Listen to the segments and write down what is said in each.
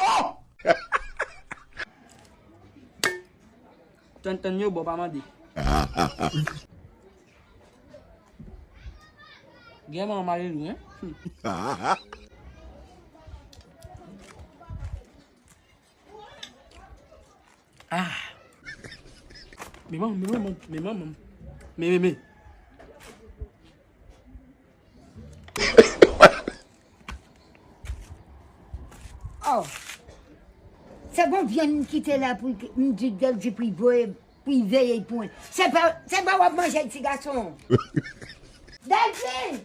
Oh! Tann tann yo bon pa mande. Gen man mare nou hein. Ah. Me mam, me mam, me mam. Me me me. Oh. Se bon vyen m kite la pou m di gèl di pou voye pou y veye y pwen. Se pa se pa wap manje ti gason. Delphine!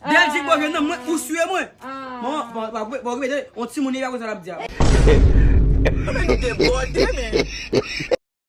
Belgique bon jwenn nan mwen ou sue mwen bon ok on ti moun li pa konn sa lap di a.